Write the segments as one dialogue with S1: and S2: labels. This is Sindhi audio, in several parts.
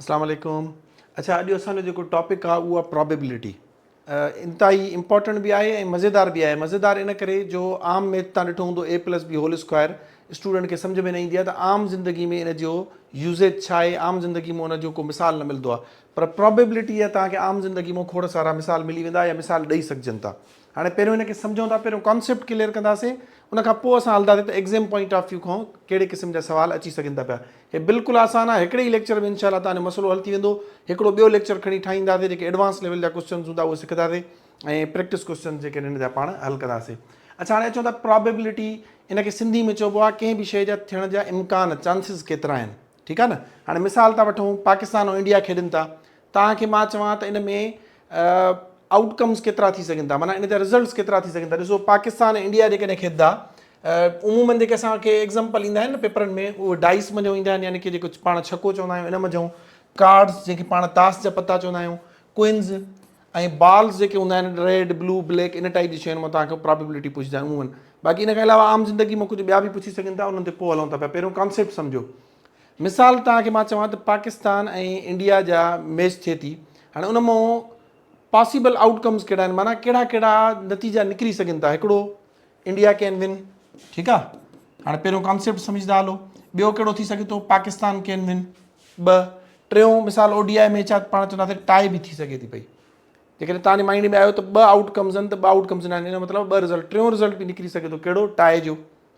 S1: اسلام عليڪم اڇا اڄ اسان جو جيڪو ٽاپڪ آ اهو آ پرابيبلٽي انتهائي امپورٽنٽ به آهي ۽ مزيدار به آهي مزيدار ان ڪري جو عام ميٿ تان ڏٺو هوندو A plus B whole square student کي سمجھ ۾ نه ايندي آهي ته عام زندگي ۾ ان جو يوزيج ڇا آهي عام زندگي ۾ ان جو ڪو مثال نه ملندو آهي پر پرابيبلٽي جا توهان کي عام زندگي مان کوڙ سارا مثال ملي ويندا يا مثال ڏئي سگھجن ٿا هاڻي پهريون ان کي سمجهون ٿا پهريون ڪانسيپٽ ڪليئر ڪنداسين ان کان پوء اسان هلندا سين ته ايگزيم پوائنٽ آف ويو کان ڪهڙي قسم جا سوال اچي سگهن ٿا پيا هي بلڪل آسان آهي هڪڙي ئي ليڪچر ۾ انشاء الله توهان جو مسئلو حل ٿي ويندو هڪڙو ٻيو ليڪچر کڻي ٺاهيندا سين جيڪي ايڊوانس ليول جا ڪوسچنز هوندا اهي سکندا سين ۽ پريڪٽس ڪوسچنز جيڪي آهن ان جا پاڻ حل ڪندا سين اڇا هاڻي اچون ٿا پرابيبلٽي ان کي سنڌي ۾ چئبو آهي ڪنهن به شيء جا ٿيڻ جا امڪان چانسز ڪيترا آهن ٺيڪ آهي نه هاڻي مثال ٿا وٺون پاڪستان ۽ انڊيا کيڏن ٿا توهان کي مان چوان ته ان ۾ آئوٽ ڪمز ڪيترا ٿي سگهن ٿا معنيٰ ان جا رزلٽس ڪيترا ٿي سگهن ٿا ڏسو پاڪستان ۽ انڊيا جيڪڏهن کيڏندا عمومن جيڪي اسان کي ايگزامپل ايندا آهن نه پيپرن ۾ اهي ڊائس منجهو ايندا آهن يعني ڪي جيڪو پاڻ ڇڪو چوندا آهيون ان منجهو ڪارڊس جنهن کي پاڻ تاس جا پتا چوندا آهيون ڪوئنز ۽ بالز جيڪي هوندا آهن ريڊ بلو بليڪ ان ٽائپ جي شين مان توهان کي پرابيبلٽي پڇندا عمومن باقي ان کان علاوه عام زندگي مان ڪجهه ٻيا به پڇي سگهن ٿا انهن تي پوء هلون ٿا پيا پهريون ڪانسيپٽ سمجهو مثال توهان کي مان چوان ته پاڪستان ۽ انڊيا جا ميچ ٿئي ٿي هاڻي ان مون پاسيبل آئوٽ ڪمز ڪهڙا آهن معنيٰ ڪهڙا ڪهڙا نتيجا نڪري سگهن ٿا هڪڙو انڊيا ڪين ون ٺيڪ آ هاڻي پهريون ڪانسيپٽ سمجهدا هلو ٻيو ڪهڙو ٿي سگهي ٿو پاڪستان ڪين ون ٻه ٽيون مثال او ڊي آء ميچ آ پاڻ چونداسي ٽائي به ٿي سگهي ٿي پئي جيڪڏهن تان مائنڊ ۾ آيو ته ٻه آئوٽ ڪمز آهن ته ٻه آئوٽ ڪمز نه آهن ان مطلب ٻه رزلٽ ٽيون رزلٽ به نڪري سگهي ٿو ڪهڙو ٽائي جو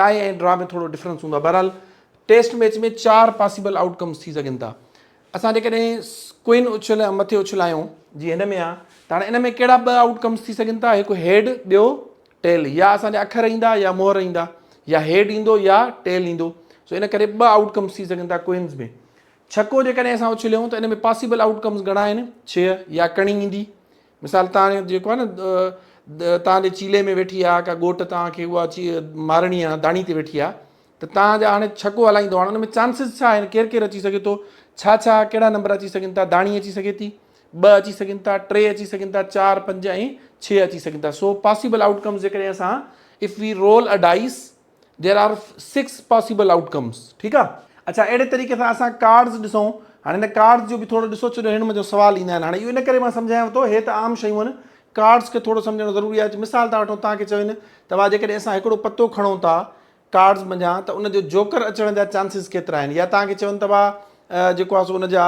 S1: ٽائي ۽ ڊرا ۾ ٿورو ڊفرنس هوندو آهي بهرحال ٽيسٽ ميچ ۾ چار پاسيبل آئوٽ ڪمز ٿي سگهن ٿا اسان جيڪڏهن ڪوئن اڇل يا مٿي اڇل آيون جي هن ۾ آهي ته هاڻي ان ۾ ڪهڙا ٻه آئوٽ ڪمز ٿي سگهن ٿا هڪ هيڊ ٻيو ٽيل يا اسان جا اکر ايندا يا مهر ايندا يا هيڊ ايندو يا ٽيل ايندو سو ان ڪري ٻه آئوٽ ڪمز ٿي سگهن ٿا ڪوئنز ۾ ڇڪو جيڪڏهن اسان اڇليون ته ان ۾ پاسيبل آئوٽ ڪمز گهڻا آهن ڇهه يا ڪڻي ايندي مثال تان جيڪو آهي نه تان جي چيلي ۾ ويٺي آهي ڪا ڳوٽ تان کي اها چي مارڻي آهي داڻي تي ويٺي آهي ته تان جا هاڻي ڇڪو هلائيندو هاڻي ان ۾ چانسز ڇا آهن ڪير ڪير اچي سگهي ٿو ڇا ڇا ڪهڙا نمبر اچي سگهن ٿا داڻي اچي سگهي ٿي ٻه اچي سگهن ٿا ٽي اچي سگهن ٿا چار پنج ۽ ڇهه اچي سگهن ٿا سو پاسيبل آؤٽ ڪمز جيڪڏهن اسان if we roll a dice There are six possible outcomes ٺيڪ آ اڇا اهڙي طريقي سان اسان ڪارڊز ڏسون هاڻي هن ڪارڊز جو به ٿورو ڏسو ڇو جو هن منجهه سوال ايندا آهن هاڻي اهو ان ڪري مان سمجهايانو ٿو هي ته عام شيون آهن ڪارڊز کي ٿورو سمجهڻ ضروري آهي مثال ٿا وٺون توهان کي چون ته وا جيڪڏهن اسان هڪڙو پتو کڻون ٿا ڪارڊز منجهان ته ان جو جوڪر اچڻ جا چانسز ڪيترا آهن يا توهان کي چون ته وا جيڪو آهي سو ان جا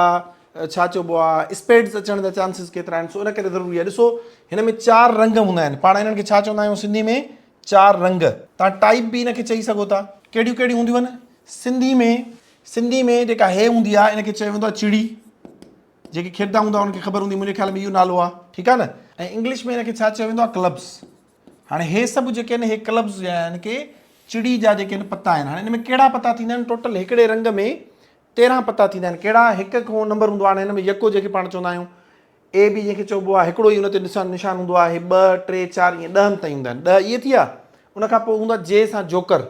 S1: ڇا چئبو آهي اسپيڊز اچڻ جا چانسز ڪيترا آهن سو ان ڪري ضروري آهي ڏسو هن ۾ چار رنگ هوندا آهن پاڻ انهن کي ڇا چوندا آهيون سنڌي ۾ چار رنگ، تان ٽائيپ به ان کي چئي سگهو ٿا. ڪهڙيون ڪهڙيون هونديون آهن؟ سنڌي ۾ سنڌي ۾ جيڪا هي هوندي آهي ان کي چيو ويندو آهي چڙي. جيڪي کيڏندا هوندا انهن کي خبر هوندي منهنجي خيال ۾ اهو نالو آهي ٺيڪ آهي نه ۽ انگلش ۾ ان کي ڇا چيو ويندو آهي ڪلبس. هاڻي هي سڀ جيڪي آهن هي ڪلبس جا آهن ڪي چڙي جا جيڪي آهن پتا آهن. هاڻي ان ۾ ڪهڙا پتا ٿيندا آهن ٽوٽل هڪڙي رنگ ۾ تيرهن پتا ٿيندا آهن ڪهڙا هڪ هڪ نمبر هوندو آهي هاڻي هن ۾ يڪو جيڪي پاڻ چوندا آهيون. اي بي جنهن کي چئبو آهي هڪڙو ئي ان تي نشان هوندو آهي ٻه ٽي چار ائين ڏهن تائين هوندا آهن ڏهه اهي ٿيا ان کان پوء هوندا جي سان جوڪر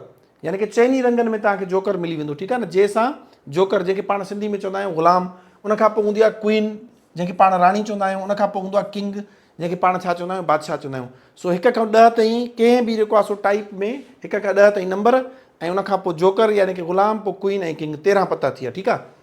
S1: يعني ڪي چئني رنگن ۾ توهان کي جوڪر ملي ويندو ٺيڪ آهي نه جي سان جوڪر جنهن کي پاڻ سنڌي ۾ چوندا آهيون غلام ان کان پوء هوندي آهي ڪوئين جنهن کي پاڻ راڻي چوندا آهيون ان کان پوء هوندو آهي ڪنگ جنهن کي پاڻ ڇا چوندا آهيون بادشاهه چوندا آهيون سو هڪ کان ڏهه تائين ڪنهن به جيڪو آسو ٽائپ ۾ هڪ کان ڏهه تائين نمبر ۽ ان کان پوء جوڪر يعني ڪي غلام پوء ڪوئين ۽ ڪنگ تيرهن پتا ٿيا ٺيڪ آهي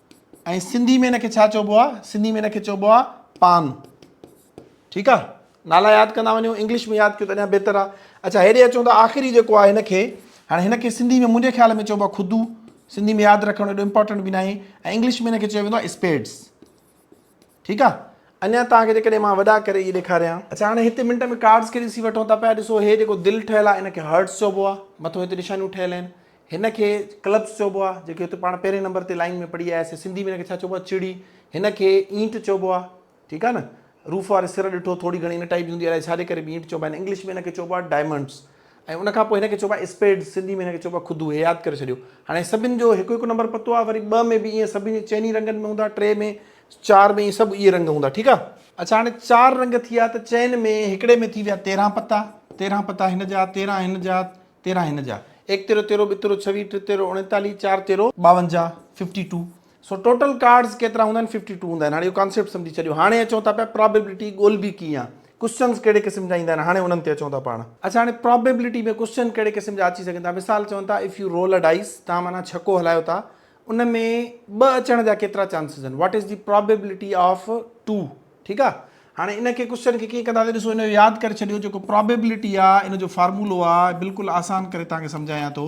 S1: ۽ سنڌي ۾ ان کي ڇا چئبو آهي سنڌي ۾ ان کي چئبو آهي پان ٺيڪ آهي نالا ياد ڪندا وڃو انگلش ۾ ياد ڪيو ته اڃا بهتر آهي اچھا هيڏي اچون ته آخري جيڪو آهي هن کي هاڻي هن کي سنڌي ۾ منهنجي خيال ۾ چئبو آهي خودو سنڌي ۾ ياد رکڻ ايڏو امپورٽنٽ به ناهي ۽ انگلش ۾ هن کي چيو ويندو آهي اسپيڊس ٺيڪ آ اڃان توهان کي جيڪڏهن مان وڏا ڪري اهي ڏيکاريان. اڇا هاڻي هتي منٽ ۾ ڪارڊز کي ڏسي وٺون ٿا پيا ڏسو هي جيڪو دل ٺهيل آ ان کي هرٽس چئبو آ مٿو هتي نشانيون ٺهيل آهن هن کي ڪلبس چئبو آ جيڪي هتي پاڻ پهرين نمبر تي لائين ۾ پڙهي آيا سي سنڌي ۾ ان کي ڇا چئبو آ چڙي هن کي اينٽ چئبو آ ٺيڪ آ نه روف واري سر ڏٺو ٿوري گهڻي ان ٽائيپ جي هوندي الائي ڇا جي ڪري به اينٽ چئبا آهن انگلش ۾ ان کي چئبو آ ڊائمنڊس ۽ ان کان پوء هن کي چئبو آهي اسپيڊز، سنڌي ۾ هن کي چئبو آهي خدو، هي ياد ڪري ڇڏيو. هاڻي سڀن جو هڪ هڪ نمبر پتو آهي، وري ٻه ۾ به ائين سڀني جي چئني رنگن ۾ هوندا، ٽي ۾، چار ۾ ائين سڀ اهي رنگ هوندا ٺيڪ آهي. اڇا هاڻي چار رنگ ٿي ويا ته چئن ۾ هڪڙي ۾ ٿي ويا تيرهن پتا، تيرهن پتا هن جا، تيرهن هن جا، تيرهن هن جا، ايڪ تيرو تيرو، ٻه تيرو ڇويهه، ٽي تيرو اوڻيتاليهه، چار تيرو ٻاونجاهه، Fifty Two، so total cards ڪيترا هوندا آهن ففٽي ٽو هوندا آهن هاڻي اهو ڪانسيپٽ سمجهي ڇڏيو هاڻي اچون ٿا پيا پرابيبلٽي ڳولبي ڪيئن ڪوشچنز ڪهڙي قسم جا ايندا آهن هاڻي انهن تي اچون ٿا پاڻ. اڇا هاڻي پرابيبلٽي ۾ ڪوشچن ڪهڙي قسم جا اچي سگهن ٿا مثال چون ٿا if you roll a dice توهان معنيٰ ڇڪو هلايو ٿا ان ۾ ٻه اچڻ جا ڪيترا چانسز آهن what is the probability of two ٺيڪ آهي هاڻي ان کي ڪوشچن کي ڪيئن ڪنداسين ڏسو ان جو ياد ڪري ڇڏيو جيڪو پرابيبلٽي آهي ان جو فارمولو آهي بلڪل آسان ڪري توهان کي سمجهايان ٿو.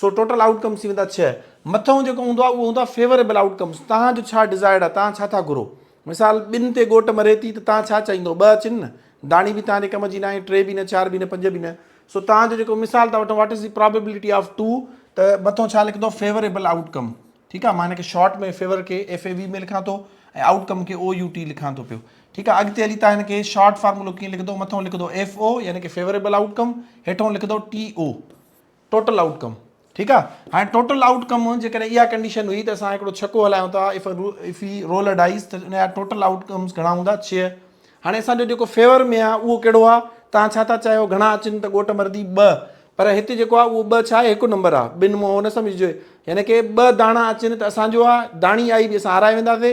S1: سو ٽوٽل آئوٽ ڪمس ٿي ويندا ڇهه. مٿئون جيڪو هوندو آهي اهو هوندو آهي فيوريبل آئوٽ ڪمس توهان جو ڇا ڊزائرڊ آهي توهان ڇا ٿا گهرو مثال ٻن تي ڳوٽ مري ٿي ته توهان ڇا چاهيندو ٻه اچن نه داڻي به توهان جي ڪم جي ناهي ٽي به نه چار به نه پنج به نه سو توهان جو جيڪو مثال ٿا وٺون what is the probability of two ته مٿئون ڇا لکندو فيوريبل آئوٽ ڪم ٺيڪ آهي مان هن کي شارٽ ۾ فيور کي ايف اي وي ۾ لکان ٿو ۽ آئوٽ ڪم کي او يو ٽي لکان ٿو پيو ٺيڪ آهي اڳتي هلي توهان هن کي شارٽ فارمولو ڪيئن لکندو مٿئون لکندو ايف او يعني ڪي فيوريبل آئوٽ ڪم هيٺئون لکندو ٽي او ٽوٽل آئوٽ ڪم ٺيڪ آ هاڻي ٽوٽل آئوٽ ڪم جيڪڏهن اها ڪنڊيشن هئي ته اسان هڪڙو ڇڪو هلايون ٿا اف اف هي رول ا ڊائيز ته ان جا ٽوٽل آئوٽ ڪمز گهڻا هوندا ڇهه هاڻي اسان جو جيڪو فيور ۾ آ اهو ڪهڙو آ تان ڇا ٿا چاهيو گهڻا اچن ته ڳوٽ مردي ٻه پر هت جيڪو آ اهو ٻه ڇا آهي هڪ نمبر آ ٻن مون هو نه سمجهجي يعني ڪي ٻه داڻا اچن ته اسان جو آ داڻي آئي به اسان هارائي وينداسي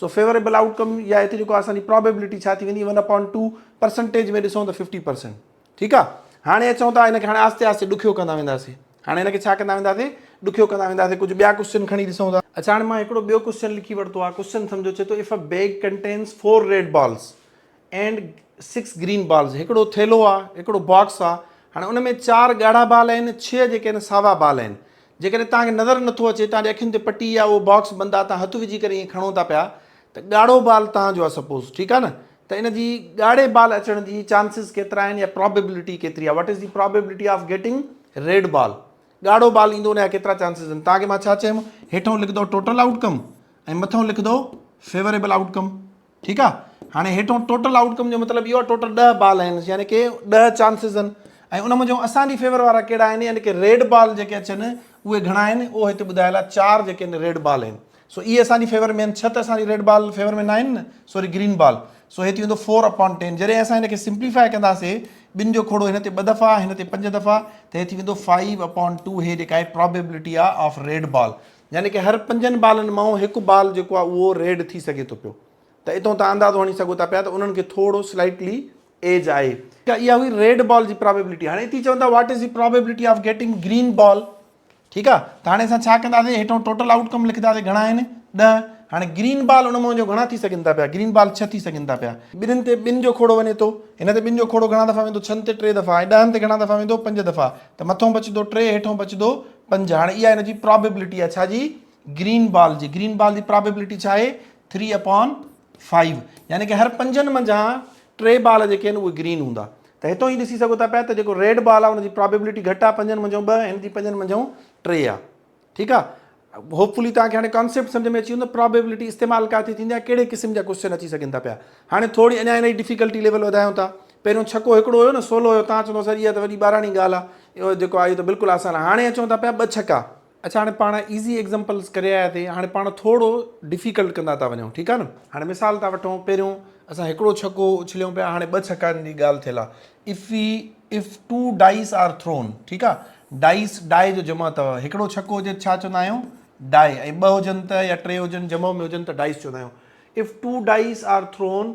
S1: سو فيوريبل آئوٽ ڪم يا هتي جيڪو اسان جي پرابيبلٽي ڇا ٿي ويندي ون اپان ٽو پرسنٽيج ۾ ڏسون ته ففٽي پرسنٽ ٺيڪ آهي هاڻي اچون ٿا هن کي هاڻي آهستي آهستي ڏکيو ڪندا وينداسي هاڻي هن کي ڇا ڪندا وينداسي ڏکيو ڪندا وينداسي ڪجهه ٻيا ڪوشچن کڻي ڏسون ٿا اڇا هاڻي مان هڪڙو ٻيو ڪوشچن لکي ورتو آهي ڪوشچن سمجهو چي ٿو if a bag contains four red balls and six green balls هڪڙو ٿيلهو آهي هڪڙو باڪس آهي هاڻي ان ۾ چار ڳاڙها بال آهن ڇهه جيڪي آهن ساوا بال آهن جيڪڏهن توهان کي نظر نٿو اچي، توهان جي اکين تي پٽي يا اهو باڪس بند آهي، توهان هٿ وجهي ڪري ائين کڻو ٿا پيا ته ڳاڙهو بال توهان جو آهي سپوز ٺيڪ آهي نه ته ان جي ڳاڙهي بال اچڻ جي چانسز ڪيترا آهن يا پرابيبلٽي ڪيتري آهي what is the probability of getting red ball ڳاڙهو بال ايندو ان جا ڪيترا چانسز آهن توهان کي مان ڇا چيم هيٺون لکندو ٽوٽل آئوٽ ڪم ۽ مٿون لکندو فيوريبل آئوٽ ڪم ٺيڪ آ هاڻي هيٺون ٽوٽل آئوٽ ڪم جو مطلب اهو آ ٽوٽل ڏهه بال آهن يعني ڪي ڏهه چانسز آهن ۽ ان منجهو اسان جي فيور وارا ڪهڙا آهن يعني ڪي ريڊ بال جيڪي اچن اهي گهڻا آهن اهو هتي ٻڌايل آ چار جيڪي آهن ريڊ بال آهن سو اهي اسان جي فيور ۾ آهن ڇهه ته اسان جي ريڊ بال فيور ۾ ناهن نه سوري گرين بال سو هي ٿي ويندو فور اپان ٽين جڏهن اسان هن کي سمپليفاء ڪنداسي ٻن جو کوڙو هن تي ٻه دفعا هن تي پنج دفعا ته هي ٿي ويندو فائيو اپان ٽو هي جيڪا آهي پرابيبلٽي آ آف ريڊ بال يعني ڪه هر پنجن بالن مان هڪ بال جيڪو آهي اهو ريڊ ٿي سگهي ٿو پيو ته اتون تان اندازو هڻي سگهو ٿا پيا ته انهن کي ٿورو سلائيٽلي ايج آهي. ته اها هئي ريڊ بال جي پرابيبلٽي. هاڻي اتي چون ٿا what is the probability of getting green ball ٺيڪ آهي ته هاڻي اسان ڇا ڪنداسين هيٺون ٽوٽل آئوٽ ڪم لکنداسين گهڻا آهن ڏهه هاڻي گرين بال ان مان جو گهڻا ٿي سگهن ٿا پيا گرين بال ڇهه ٿي سگهن ٿا پيا ٻنهن تي ٻن جو کوڙو وڃي ٿو هن تي ٻن جو کوڙو گهڻا دفعا ويندو ڇهن تي ٽي دفعا ۽ ڏهن تي گهڻا دفعا ويندو پنج دفعا ته مٿون بچندو ٽي هيٺون بچندو پنج هاڻي اها هن جي پرابيبلٽي آهي ڇا جي گرين بال جي گرين بال جي پرابيبلٽي ڇا آهي ٿري اپون فائيو يعني کہ هر پنجن منجهان ٽي بال جيڪي آهن اهي گرين هوندا ته هتو هي ڏسي سگهو ٿا پيا ته جيڪو ريڊ بال آهي ان جي پرابيبلٽي گهٽ آهي پنجن منجهان ٻه هن جي پنجن منجهان ٽي آهي ٺيڪ آهي هوپ فلي توهان کي هاڻي ڪانسيپٽ سمجھ ۾ اچي ويندو پرابيبلٽي استعمال ڪاٿي ٿيندي آهي ڪهڙي قسم جا ڪوشچن اچي سگهن ٿا پيا هاڻي ٿوري اڃا هن جي ڊفيڪلٽي ليول وڌايون ٿا پهريون ڇڪو هڪڙو هيو نه سولو هيو تان چوندو سر اها ته وڏي ٻاراڻي ڳالهه آهي اهو جيڪو آهي اهو ته بلڪل آسان آهي هاڻي اچون ٿا پيا ٻه ڇڪا. اڇا هاڻي پاڻ ايزي ايگزمپلز ڪري آيا ٿي هاڻي پاڻ ٿورو ڊفيڪلٽ ڪندا ٿا وڃون ٺيڪ آهي نه. هاڻي مثال ٿا وٺون پهريون اسان هڪڙو ڇڪو اڇليون پيا هاڻي ٻه ڇڪن جي ڳالهه ٿيل آهي if we if two dice are thrown ٺيڪ آهي ڊائيس ڊائي جو جمع اٿو هڪڙو ڇڪو هجي ته ڇا چوندا آهيون ڊائي ۽ ٻه هجن ته يا ٽي هجن جمع ۾ هجن ته ڊائيس چوندا آهيون if two dice are thrown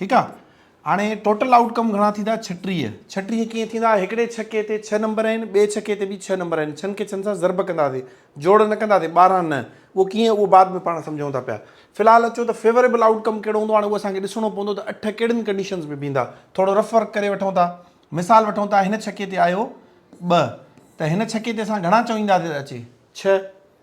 S1: ٺيڪ آ هاڻي ٽوٽل آئوٽ ڪم گهڻا ٿيندا ڇٽيهه ڇٽيهه ڪيئن ٿيندا هڪڙي ڇڪي تي ڇهه نمبر آهن ٻئي ڇڪي تي به ڇهه نمبر آهن ڇهن کي ڇهن سان ضرب ڪنداسي جوڙ نه ڪنداسي ٻارهن نه اهو ڪيئن اهو بعد ۾ پاڻ سمجهون ٿا پيا في الحال اچو ته فيوريبل آئوٽ ڪم ڪهڙو هوندو هاڻي اهو اسان کي ڏسڻو پوندو ته اٺ ڪهڙين ڪنڊيشنز ۾ بيهندا ٿورو رف ورڪ ڪري وٺون ٿا مثال وٺون ٿا هن ڇڪي تي آيو ٻه ته هن ڇڪي تي اسان گهڻا چوينداسي اچي ڇهه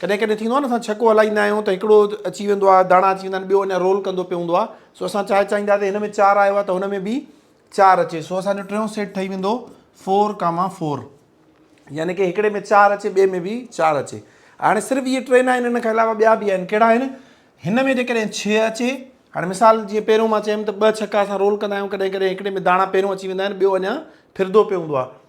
S1: ڪڏهن ڪڏهن ٿيندو آهي نه اسان ڇڪو هلائيندا آهيون ته هڪڙو اچي ويندو آهي داڻا اچي ويندا آهن ٻيو اڃا رول ڪندو پيو هوندو آهي سو اسان چاهي چاهيندا ته هن ۾ چار آيو آهي ته هن ۾ به چار اچي سو اسان جو ٽيون سيٽ ٺهي ويندو فور ڪاما فور يعني ڪي هڪڙي ۾ چار اچي ٻئي ۾ به چار اچي هاڻي صرف اهي ٽي ناهن ان کان علاوه ٻيا به آهن ڪهڙا آهن هن ۾ جيڪڏهن ڇهه اچي هاڻي مثال جيئن پهريون مان چيم ته ٻه ڇڪا اسان رول ڪندا آهيون ڪڏهن ڪڏهن هڪڙي ۾ داڻا پهريون اچي ويندا آهن ٻيو اڃا ڦردو پيو هوندو آهي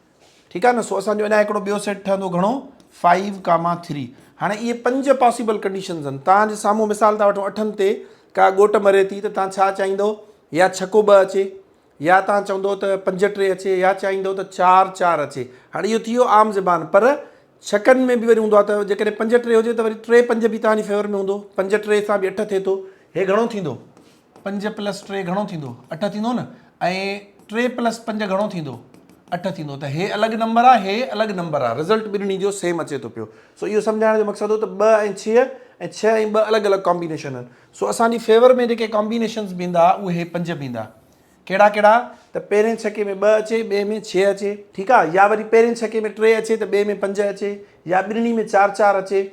S1: ٺيڪ آهي نه سو اسان جو اڃا هڪڙو ٻيو سيٽ ٺهندو گهڻو فائيو ڪاما ٿري هاڻي اهي پنج پاسيبل ڪنڊيشنز آهن توهان جي سامهون مثال ٿا وٺون اٺن تي ڪا ڳوٽ مري ٿي ته توهان ڇا چاهيندو يا ڇڪو ٻه اچي يا توهان چوندو ته پنج ٽي اچي يا چاهيندو ته چار چار اچي هاڻي اهو ٿي ويو عام زبان پر ڇڪن ۾ به وري هوندو آهي ته جيڪڏهن پنج ٽي هجي ته وري ٽي پنج به توهان جي فيور ۾ هوندو پنج ٽي سان به اٺ ٿئي ٿو هي گهڻو ٿيندو پنج پلس ٽي گهڻو ٿيندو؟ اٺ ٿيندو نه ۽ ٽي پلس پنج گهڻو ٿيندو؟ اٺ ٿيندو ته هي الڳ نمبر آ هي الڳ نمبر آ رزلٽ ٻنهي جو سيم اچي ٿو پيو سو اهو سمجهائڻ جو مقصد هو ته ٻه ۽ ڇهه ۽ ڇهه ۽ ٻه الڳ الڳ ڪامبينيشن آهن سو اسان جي فيور ۾ جيڪي ڪامبينيشنز بيندا اهي پنج بيندا ڪهڙا ڪهڙا ته پهرين ڇڪي ۾ ٻه اچي ٻئي ۾ ڇهه اچي ٺيڪ آ يا وري پهرين ڇڪي ۾ ٽي اچي ته ٻئي ۾ پنج اچي يا ٻنهي ۾ چار چار اچي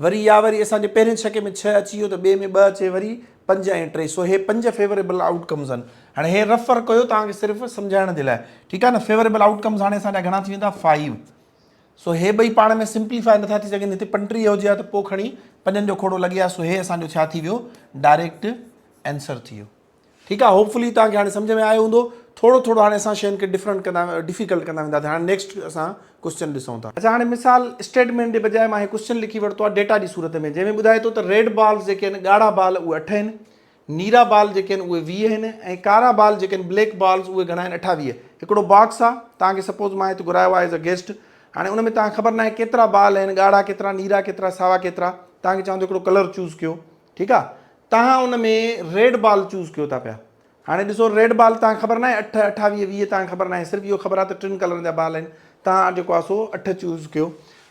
S1: وري يا وري اسان جي پهرين ڇڪي ۾ ڇهه اچي ويو ته ٻئي ۾ ٻه اچي وري پنج ۽ ٽي سو هي پنج فيوريبل آئوٽ ڪمز آهن هاڻي هي رف ورڪ هيو توهان کي صرف سمجهائڻ جي لاء ٺيڪ آ نه فيوريبل آئوٽ ڪمز هاڻي اسان جا گهڻا ٿي ويندا فائيو سو هي ٻئي پاڻ ۾ سمپليفائي نٿا ٿي سگهن هتي پنٽري هجي ها ته پوء کڻي پنجن جو کوڙو لڳي ها سو هي اسان جو ڇا ٿي ويو ڊائريڪٽ آنسر ٿي ويو ٺيڪ آ هوپ فلي توهان کي هاڻي سمجهه ۾ آيو هوندو ٿورو ٿورو هاڻي اسان شين کي ڊفرنٽ ڪندا ڊفيڪلٽ ڪندا ويندا سين هاڻي نيڪسٽ اسان ڪوسچن ڏسون ٿا. اچا هاڻي مثال اسٽيٽمينٽ جي بجاء مان هي ڪوسچن لکي ورتو آ ڊيٽا جي صورت ۾ جنهن ۾ ٻڌائي ٿو ته ريڊ بالز جيڪي آهن ڳاڙها بال اهي اٺ آهن نيرا بال جيڪي آهن اهي ويهه آهن ۽ ڪارا بال جيڪي آهن بليڪ بالز اهي گهڻا آهن اٺاويهه هڪڙو باڪس آ توهان کي سپوز مان هت گهرايو آ ايز آ گيسٽ هاڻي ان ۾ توهان کي خبر ناهي ڪيترا بال آهن ڳاڙها ڪيترا نيرا ڪيترا ساوا ڪيترا توهان کي چوان ٿو هڪڙو ڪلر چوز ڪيو ٺيڪ آ توهان ان ۾ ريڊ بال چوز ڪيو ٿا پيا هاڻي ڏسو ريڊ بال توهان کي خبر ناهي اٺ اٺاويهه ويهه توهان کي خبر ناهي صرف اهو خبر آ ته ٽن ڪلرن جا بال آهن توهان جيڪو آ سو اٺ چوز ڪيو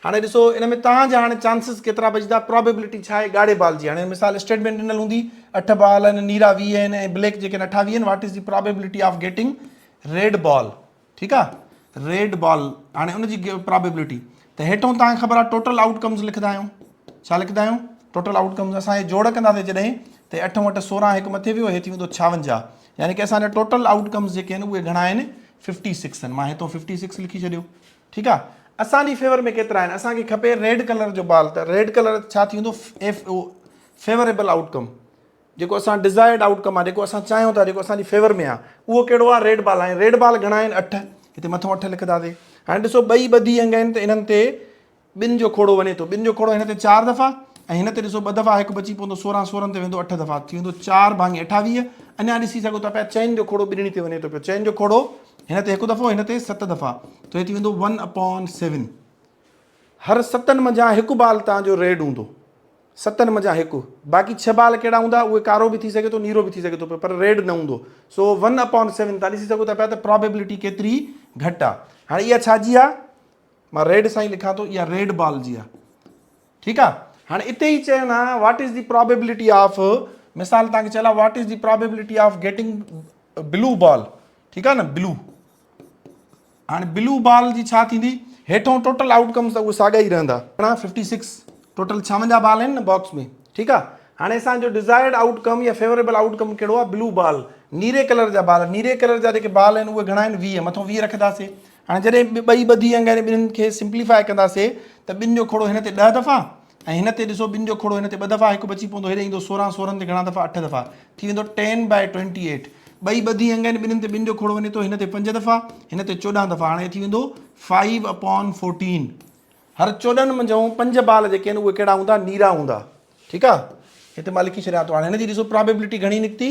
S1: هاڻي ڏسو ان ۾ توهان جا هاڻي چانسز ڪيترا بچدا پرابيبلٽي ڇا آهي ڳاڙهي بال جي هاڻي مثال اسٽيٽمينٽ ڏنل هوندي اٺ بال آهن نيرا ويهه آهن ۽ بليڪ جيڪي آهن اٺاويهه آهن what is the probability of getting red ball ٺيڪ آ ريڊ بال هاڻي ان جي پرابيبلٽي ته هيٺون تان کي خبر آ ٽوٽل آئوٽ ڪمز لکندا آهيون ڇا لکندا آهيون ٽوٽل آئوٽ ڪمز اسان هي جوڙ ڪنداسي جڏهن ته اٺ وٽ سورهن هڪ مٿي ويو هي ٿي ويندو ڇاونجاهه يعني ڪي اسان جا ٽوٽل آئوٽ ڪمز جيڪي آهن اهي گهڻا آهن ففٽي سڪس آهن مان هيتو ففٽي سڪس لکي ڇڏيو ٺيڪ آ اسان جي فيور ۾ ڪيترا آهن اسان کي کپي ريڊ ڪلر جو بال ته ريڊ ڪلر ڇا ٿي ويندو فيوريبل آئوٽ ڪم جيڪو اسان ڊزائرڊ آئوٽ ڪم آ جيڪو اسان چاهيون ٿا جيڪو اسان جي فيور ۾ آ اهو ڪهڙو آ ريڊ بال ۽ ريڊ بال گهڻا آهن اٺ هتي مٿو اٺ لکنداسي هاڻي ڏسو ٻئي ٻڌي انگ آهن ته انهن تي ٻن جو کوڙو وڃي ٿو ٻن جو کوڙو هن تي چار دفعا ۽ هن تي ڏسو ٻه دفعا هڪ بچي پوندو سورهن سورهن تي ويندو اٺ دفعا ٿي ويندو چار ڀاڱي اٺاويهه اڃا ڏسي سگهو ٿا پيا چئن جو کوڙو ٻنهي تي وڃي ٿو پيو چئن جو کوڙو هن تي هڪ دفعو هن تي ست دفعا ته هي ٿي ويندو ون اپون سيون هر ستن منجهان هڪ بال تان جو ريڊ هوندو ستن منجهان هڪ. باقي ڇهه بال ڪهڙا هوندا اهي ڪارو به ٿي سگهي ٿو نيرو به ٿي سگهي ٿو پيو پر ريڊ نه هوندو سو ون اپان سيون تان ڏسي سگهو ٿا پيا ته پرابيبلٽي ڪيتري گهٽ آ هاڻي اها ڇا جي آ مان ريڊ سان ئي لکان ٿو اها ريڊ بال جي آ ٺيڪ آ هاڻي اتي ئي چين ها what is the probability of مثال تان کي چيل آ what is the probability of getting blue ball ٺيڪ آ نه بلو هاڻي بلو بال جي ڇا ٿيندي هيٺون ٽوٽل آئوٽ ڪمس ته اهي ساڳا ئي رهندا ارڙهن ففٽي سڪس ٽوٽل ڇاونجاهه بال آهن نه باڪس ۾ ٺيڪ آ هاڻي اسان جو ڊزائرڊ آئوٽ ڪم يا فيوريبل آئوٽ ڪم ڪهڙو آ بلو بال نيري ڪلر جا بال نيري ڪلر جا جيڪي بال آهن اهي گهڻا آهن ويهه مٿو ويهه رکنداسي هاڻي جڏهن ٻئي ٻڌي انگ آهن ٻنهن کي سمپليفاء ڪنداسي ته ٻن جو کوڙو هن تي ڏهه دفعا ۽ هن تي ڏسو ٻن جو کوڙو هن تي ٻه دفعا هڪ بچي پوندو هيڏي ايندو سورهن سورهن تي گهڻا دفعا اٺ دفعا ٿي ويندو ٽين بائي ٽوئنٽي ايٽ ٻئي ٻڌي انگ آهن ٻنهن تي ٻن جو کوڙو وڃي ٿو هن تي پنج دفعا هن تي چوڏهن دفعا هاڻي ٿي ويندو فائيو اپون فورٽين هر چوڏهن منجهون پنج بال جيڪي آهن اهي ڪهڙا هوندا نيرا هوندا ٺيڪ آهي هتي مان لکي ڇڏيان ٿو هاڻي هن جي ڏسو پرابيبلٽي گهڻي نڪتي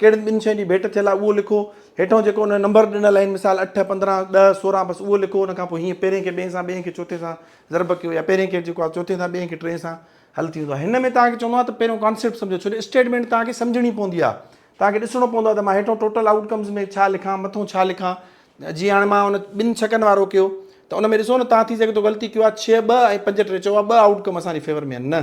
S1: ڪهڙين ٻن شين جي ڀيٽ ٿيل آهي اهو لکو. هيٺئون جيڪو ان ۾ نمبر ڏنل آهن مثال اٺ، پندرهن، ڏهه، سورهن بس اهو لکو ان کان پوء هيئن پهرين کي ٻئين سان ٻئين کي چوٿين سان ضرب ڪيو يا پهرين کي جيڪو آهي چوٿين سان ٻئين کي ٽئين سان حل ٿي ويندو آهي هن ۾ توهان کي چوندو آهيان ته پهريون ڪانسيپٽ سمجهو ڇو جو اسٽيٽمينٽ توهان کي سمجهڻي پوندي آهي توهان کي ڏسڻو پوندو آهي ته مان هيٺئون ٽوٽل آئوٽ ڪمز ۾ ڇا لکان مٿئون ڇا لکان جيئن هاڻي مان ان ٻن ڇڪن وارو ڪيو ته ان ۾ ڏسو نه توهان ٿي سگهي ٿو غلطي ڪيو آهي ڇهه ٻه ۽ پنج ٽي چئو آهي ٻه آئوٽ ڪم اسان جي فيور ۾ آهن نه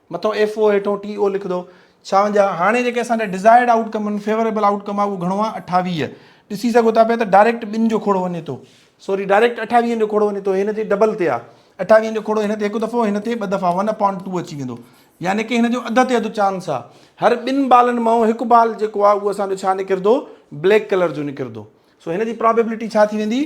S1: مٿو ايف او هيٺون ٽي او لکدو ڇاونجا هاڻي جيڪي اسان ڏي ڊزائرڊ آئوٽ ڪم ان فيوريبل آئوٽ ڪم آ اهو گهڻو آ اٺاويهه ڏسي سگهو ٿا پيا ته ڊائريڪٽ ٻن جو کوڙو وڃي ٿو سوري ڊائريڪٽ اٺاويهن جو کوڙو وڃي ٿو هن تي ڊبل تي آ اٺاويهن جو کڙو هن تي هڪ دفعو هن تي ٻه دفعا ون اپان ٽو اچي ويندو يعني ڪي هن جو اڌ تي اڌ چانس آ هر ٻن بالن مئو هڪ بال جيڪو آ اهو اسان جو ڇا نڪردو بليڪ ڪلر جو نڪردو سو هن جي پرابيبلٽي ڇا ٿي ويندي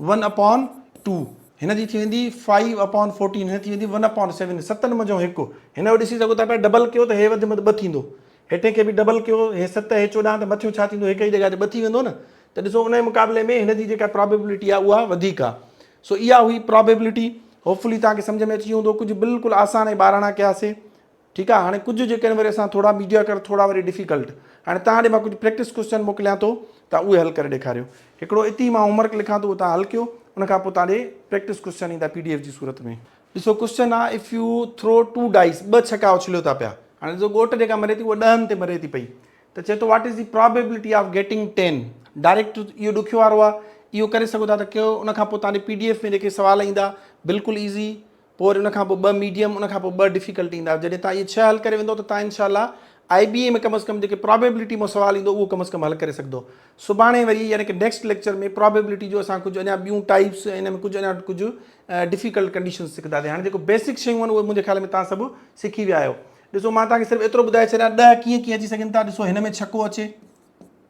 S1: ون اپون ٽو هن جي ٿي ويندي فائيو اپون فورٽين هن ٿي ويندي ون اپون سيون ستن منجهو هڪ هن جو ڏسي سگهو ٿا پيا ڊبل ڪيو ته هي وڌ مد ٻه ٿيندو هيٺين کي به ڊبل ڪيو هي ست هي چوڏهن ته مٿيون ڇا ٿيندو هڪ ئي جڳهه تي ٻه ٿي ويندو نه ته ڏسو ان جي مقابلي ۾ هن جي جيڪا پرابيبلٽي آ اها وڌيڪ آ سو اها هئي پرابيبلٽي هوپ فلي توهان کي سمجهه ۾ اچي ويو هوندو ڪجهه بلڪل آسان ۽ ٻاراڻا ڪياسي ٺيڪ آ هاڻي ڪجهه جيڪڏهن وري اسان ٿورا ميڊيا ڪر ٿورا وري ڊفيڪلٽ هاڻي توهان ڏي مان ڪجهه پريڪٽس ڪوسچن موڪليان ٿو توهان اهي حل ڪري ڏيکاريو هڪڙو اتي مان هوم ورڪ لکان ٿو اهو توهان حل ڪيو ان کان پوء توهان ڏي پريڪٽس ڪوسچن ايندا پي ڊي ايف جي صورت ۾ ڏسو ڪوسچن آ if you throw two dice ٻه ڇڪا اڇليو ٿا پيا هاڻي ڏسو ڳوٺ جيڪا مري ٿي اها ڏهن تي مري ٿي پئي ته چئي ٿو what is the probability of getting ten direct اهو ڏکيو وارو آ اهو ڪري سگهو ٿا ته ڪيو ان کان پوء توهان ڏي پي ڊي ايف ۾ جيڪي سوال ايندا بلڪل ايزي پوء وري ان کان پوء ٻه ميڊيم ان کان پوء ٻه ڊفيڪلٽ ايندا جڏهن توهان اهي ڇهه حل ڪري ويندو ته توهان انشاء الله آئي بي اي ۾ ڪم از ڪم جيڪي پرابيبلٽي مان سوال ايندو اهو ڪم از ڪم حل ڪري سگهندو سڀاڻي وري يعني ڪه نيڪسٽ ليڪچر ۾ پرابيبلٽي جو اسان ڪجهه اڃا ٻيون ٽائيپس ۽ ان ۾ ڪجهه اڃا ڪجهه ڊفيڪلٽ ڪنڊيشنس سکنداسين هاڻي جيڪو بيسڪ شيون آهن اهي منهنجي خيال ۾ توهان سڀ سکي ويا آهيو ڏسو مان توهان کي صرف ايترو ٻڌائي ڇڏيان ڏهه ڪيئن ڪيئن اچي سگهن ٿا ڏسو هن ۾ ڇڪو اچي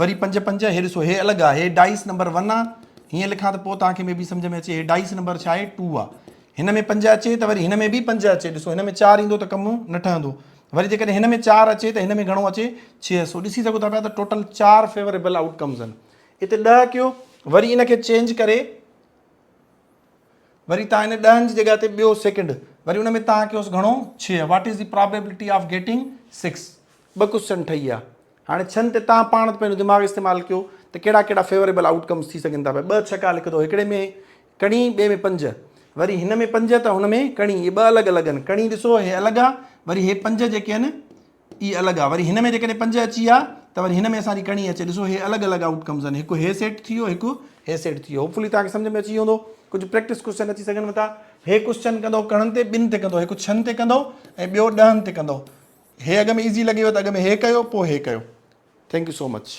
S1: وري پنج پنج هي ڏسو هي الڳ آ هي ڊائيس نمبر ون آ هيئن لکان ته پوء توهان کي مي بي سمجهه ۾ اچي هي ڊائيس نمبر ڇا آهي ٽو آ هن ۾ پنج اچي ته وري هن ۾ به پنج اچي ڏسو هن ۾ چار ايندو ته ڪم نه ٺهندو وري جيڪڏهن هن ۾ چار اچي ته هن ۾ گهڻو اچي ڇهه سو ڏسي سگهو ٿا پيا ته ٽوٽل چار فيوريبل آئوٽ ڪمز آهن اتي ڏهه ڪيو وري ان کي چينج ڪري وري تان ان ڏهن جي جڳهه تي ٻيو سيڪنڊ وري ان ۾ تان ڪيوس گهڻو ڇهه what is the probability of getting six ٻه ڪوشچن ٺهي ويا هاڻي ڇهن تي تان پاڻ ته پنهنجو دماغ استعمال ڪيو ته ڪهڙا ڪهڙا فيوريبل آؤٽ ڪمس ٿي سگهن ٿا ٻه ڇڪا لکندو هڪڙي ۾ ڪڻي ٻئي ۾ پنج وري هن ۾ پنج ته هن ۾ ڪڻي اهي ٻه الڳ الڳ آهن ڪڻي ڏسو هي الڳ آ وري هي پنج جيڪي آهن اي الڳ آ وري هن ۾ جيڪڏهن پنج اچي ها ته وري هن ۾ اسان جي ڪڻي اچي ڏسو هي الڳ الڳ آئوٽ ڪمز آهن هڪ هي سيٽ ٿي ويو هڪ هي سيٽ ٿي ويو هوپ فلي توهان کي سمجهه ۾ اچي ويو هوندو ڪجهه پريڪٽس ڪوشچن اچي سگهن ٿا هي ڪوشچن ڪندو ڪڻن تي ٻن تي ڪندو هڪ ڇهن تي ڪندو ۽ ٻيو ڏهن تي ڪندو هي اڳ ۾ ايزي لڳيو ته اڳ ۾ هي ڪيو پوء هي ڪيو ٿينڪ يو سو مچ